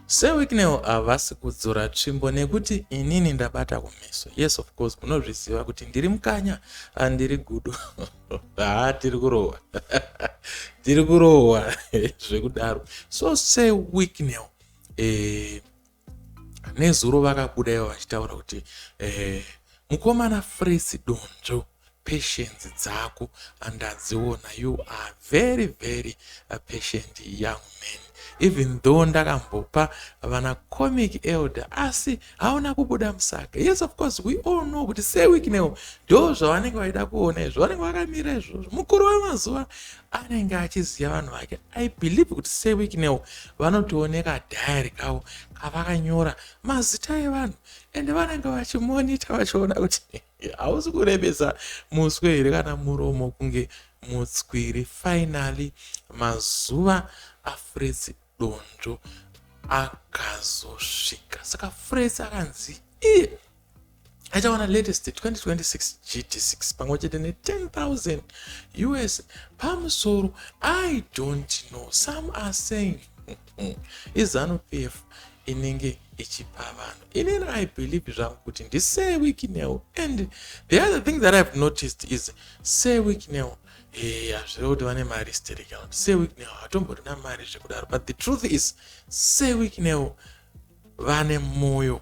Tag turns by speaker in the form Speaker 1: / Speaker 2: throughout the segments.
Speaker 1: Sir Wicknell havasi kudzora tsvimbo nekuti inini ndabata kumeso. Yes of course munozviziva kuti ndiri mukanya andiri gudo. Haa tiri kurohwa. tiri kurohwa zvekudaro. So Sir Wicknell eh, nezuro vakabuda ivo vachitaura kuti eh, mukomana Fresi Donzvo patience dzako andadziona you are very very uh, patient young man even though ndakambopa vana comic elder asi hauna kubuda musaga yes of course we all know kuti sewiknewo ndo zvavanenge vaida kuona izvo vanenge vakamira izvozvo mukuru wemazuva anenge achiziva vanhu vake i believe kuti sewiknewo vanotooneka diary kavo kavakanyora mazita evanhu ende vanenge vachimonita vachiona kuti hausi kurebesa muswe here kana muromo kunge mutswiri finally mazuva afrets donzvo akazosvika saka frets akanzi iye achawana latest 2026 gt6 pamwe chete ne10000 us pamusoro i don't know some are saying Eh, izanu pf inenge ichipa vanhu inini i believe zvangu kuti ndisee weeknel and the other thing that ihave noticed is see weeknel eh, hazvire kuti vane mari stericount see weeknel hatomborina mari zvekudaro but the truth is see weeknel vane moyo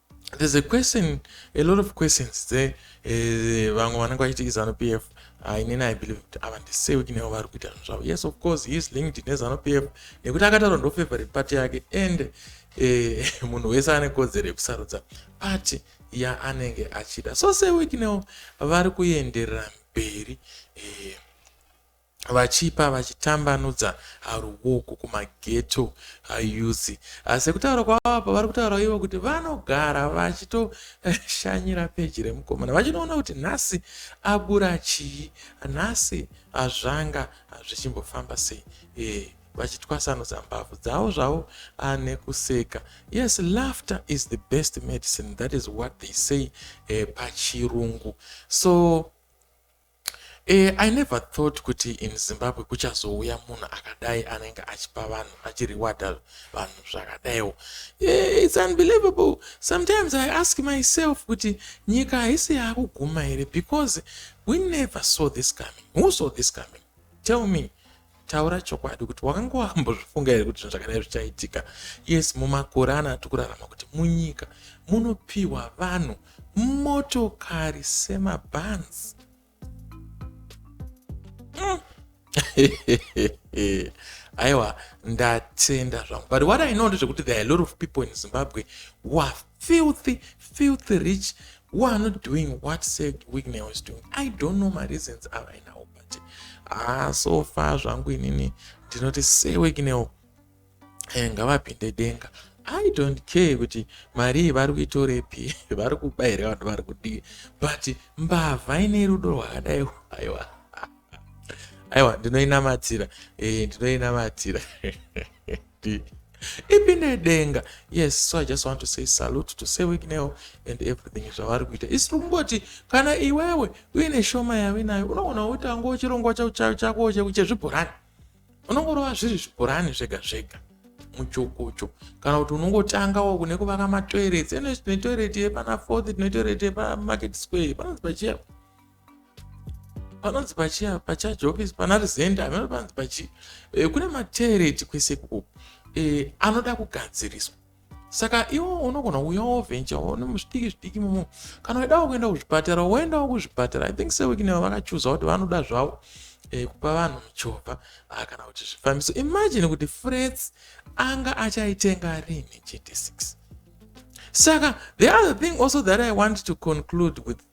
Speaker 1: there's a question a lot of questions dze eh, vamwe vanenge vachiti izanu p f ah, inini i believe kuti ava ndisewiki nevo vari kuita zvinhu zvavo yes of course he is linked nezanu p f nekuti akataura ndofavorite party yake and eh, munhu wese ane kodzero yekusarudza party yaanenge achida so sewiki nevo vari kuenderera mberi eh, vachipa vachitambanudza haruoko kumaghetto ayouth asi kutaura kwavo apa vari kutaura ivo kuti vanogara vachitoshanyira peji remukomana vachinoona kuti nhasi abura chii nhasi hazvanga hazvichimbofamba sei e, vachitwasanudza mbabvu dzavo zvavo ane kuseka yes laughter is the best medicine that is what they say e, pachirungu so Eh, I never thought kuti in Zimbabwe kuchazouya munhu akadai anenge achipa vanhu achirewada vanhu zvakadaiwo. Eh, it's unbelievable. Sometimes I ask myself kuti nyika haisi yakuguma here because we never saw this coming. Who saw this coming? Tell me. Taura chokwadi kuti wakanga wambozvifunga here kuti zvinhu zvakadai zvichaitika. Yes, mumakore ano atiri kurarama kuti munyika munopiwa vanhu motokari semabhans. Mm. aiwa ndatenda zvangu but what i know ndezvekuti there are a lot of people in zimbabwe who are filthy filthy rich who are not doing what said wignel is doing i don't know mareasons avainawo manje ah so far zvangu inini ndinoti sewekinewo eh, ngavapinde denga i don't care kuti mari iyi vari kuitorepi vari kuba here vanhu vari kudii but mbavha ine rudo rwakadai aiwa aiwa ndinoinamatira e, ndinoinamatira ipi nedenga yes so i just want to say salute to say wiknel and everything zvavari kuita isi tiri kungoti kana iwewe uine shoma yave nayo unoona utanga uchirongwa chako chezvibhorani unongorova zviri zvibhorani zvega zvega muchukucho kana kuti unongotanga wo kune kuvaka matoireti ene tine toireti yepana fourth tine toireti yepamarket square panonzi pachiya panonzi pachia pachurch office pana resent ameno panonzi pachi e, kune matereti kwese kuku e, eh, anoda kugadziriswa saka iwo unogona kuuya wovencha one muzvidiki zvidiki mumo kana uidawo kuenda kuzvipatara woendawo kuzvipatara i think sewekineva vakachuza kuti vanoda zvavo e, kupa vanhu muchovha ah, kana kuti zvifambiso imagine kuti frets anga achaitenga rini gt6 saka the other thing also that i want to conclude with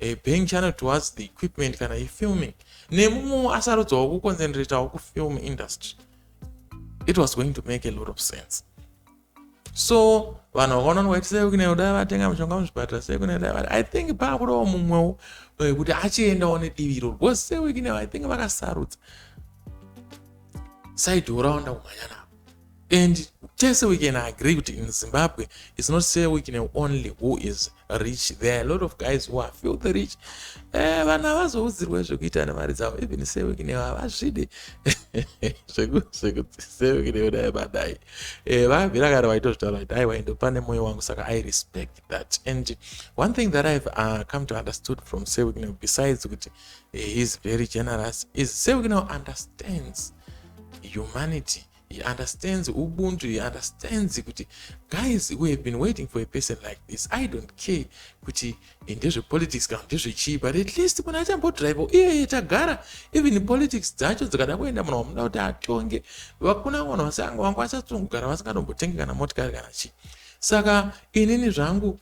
Speaker 1: A bang channel towards the equipment kana yefilming nemumwewo asarudzawo kuconcentratawo kufilm industry it was going to make a lot of sense so vanhu vakaona nwaiti sei kune dai vatenga mushonga muzvipatara sei kune dai vati i think paakudawo mumwewo eh, kuti achiendawo nedivi iroro because sei wikine i think vakasarudza saidhi uraonda kumhanya navo And tese we can agree kuti in Zimbabwe it's not say we can only who is rich. There are a lot of guys who are filthy rich. Eh, vana vazoudzirwe zvekuita nemari dzavo even say we can havazvide zvekuti say we can dai badai. Eh, vabvira kare vaitozvitaura kuti aiwa ende pane moyo wangu saka I respect that. And one thing that I've uh, come to understood from say we can besides kuti eh, he's very generous is say we can understands humanity he understands ubuntu he understands kuti guys we have been waiting for a person like this i don't care kuti eh, ndezvepolitics kana ndezvechii but at least munhu achambodrive iyeye tagara even politics dzacho dzikada kuenda munhu wamuda kuti atonge vakuna vanhu vasanga vangu vachatsungugara vasingadombotenge kana motikari kana chii saka inini zvangu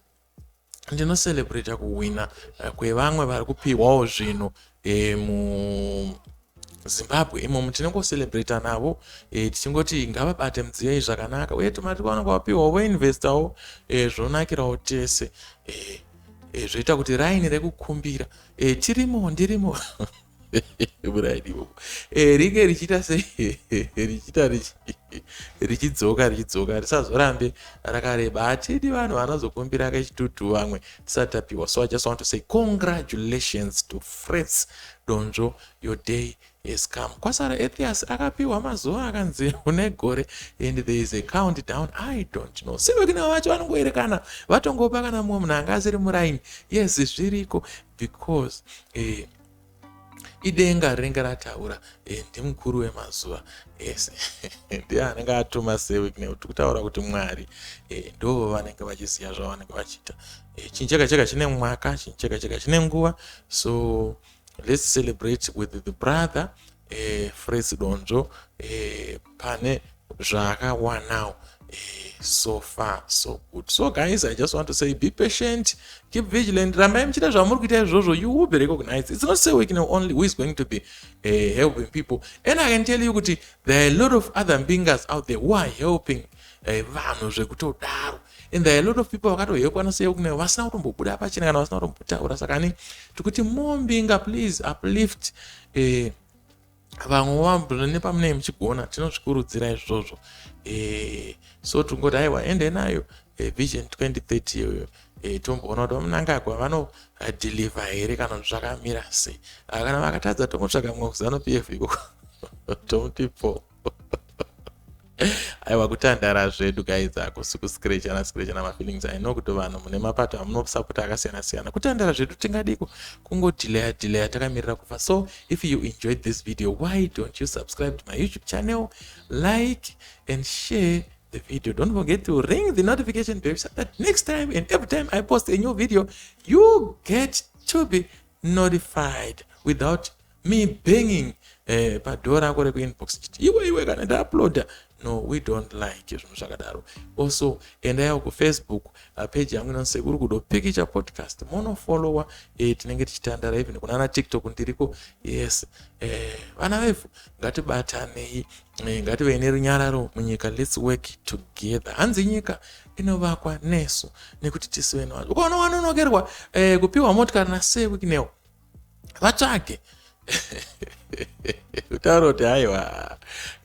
Speaker 1: ndino celebrate kuhwina eh, kwevamwe vari kupihwawo zvinhu eh, muzimbabwe imomo tinongocelebrata navo eh, tichingoti ngavabate mudziyai zvakanaka uye tumati kwavanenge vapihwawo voinvestawo zvonakirawo tese zvoita kuti raini rekukumbira tirimo ndirimo murairiwo eh, ringe richiita se richiita richidzoka richidzoka risazorambe rakareba hatidi vanhu vanozokumbira kechitutu vamwe tisati tapiwa so i just want to say congratulations to frets donzvo your day has come kwasara ethias akapiwa mazuva akanzi une gore and there is a count down i don't know sivekina vacho vanongoerekana vatongopa kana mumwe munhu anga asiri muraini yes zviriko because eh, idenga rinenge rataura eh, ndimukuru wemazuva ese ndiye anenge atuma sewik nekuti kutaura kuti mwari eh, ndo vanenge vachiziva zvavanenge vachiita eh, chinhu chega chega chine mwaka chinhu chega chega chine nguva so let's celebrate with the brother eh, Fritz Donzvo eh, pane zvaakawanawo eh, so far so good so guys i just want to say be patient keep vigilant rambai muchita zvamuri kuita izvozvo you will be recognized it's not say we can only who is going to be eh, helping people and i can tell you kuti there are a lot of other mbingas out there who are helping eh, vanhu zvekutodaro uh, and there are a lot of people vakatohekwa noseyeu kune vasina kutombobuda pachena kana vasina kutombotaura saka ni tikuti mombinga please uplift eh, vamwe vambo nepamunei muchigona tinozvikurudzira izvozvo eh, so tingoti aiwa ende nayo eh, vision 2030 iyoyo eh, tomboona kuti vamunangagwa vanodhilivha eh, here kana kuti zvakamira sei ah, kana vakatadza tomutsvaga mumwe kuzano pf ikoko tomuti po aiwa kutandara zvedu guys ako sikuscrechana screchana mafeelings i know kuti vanhu mune mapato amunosapota akasiyana siyana kutandara zvedu tingadiko kungodilaya dilaya takamirira kufa so if you enjoyed this video why don't you subscribe to my youtube channel like and share the video don't forget to ring the notification bell so that next time and every time i post a new video you get to be notified without me banging eh, padoor rako rekuinbox chiti iwe iwe kana ndauploada no we don't like zvinhu zvakadaro also endayawo kufacebook uh, page yangu inonzi sekuru kudo pikicha podcast monofollowa eh, tinenge tichitandara even kunana tiktok ndiriko yes eh, vana vevhu ngatibatanei eh, ngativei nerunyararo munyika lets work together hanzi nyika inovakwa nesu nekuti tisive navanhu ukaona wanonokerwa eh, kupiwa motikari nasewikinewo vatsvage kutaura kuti haiwa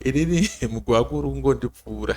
Speaker 1: inini mugwakuru kungondipfuura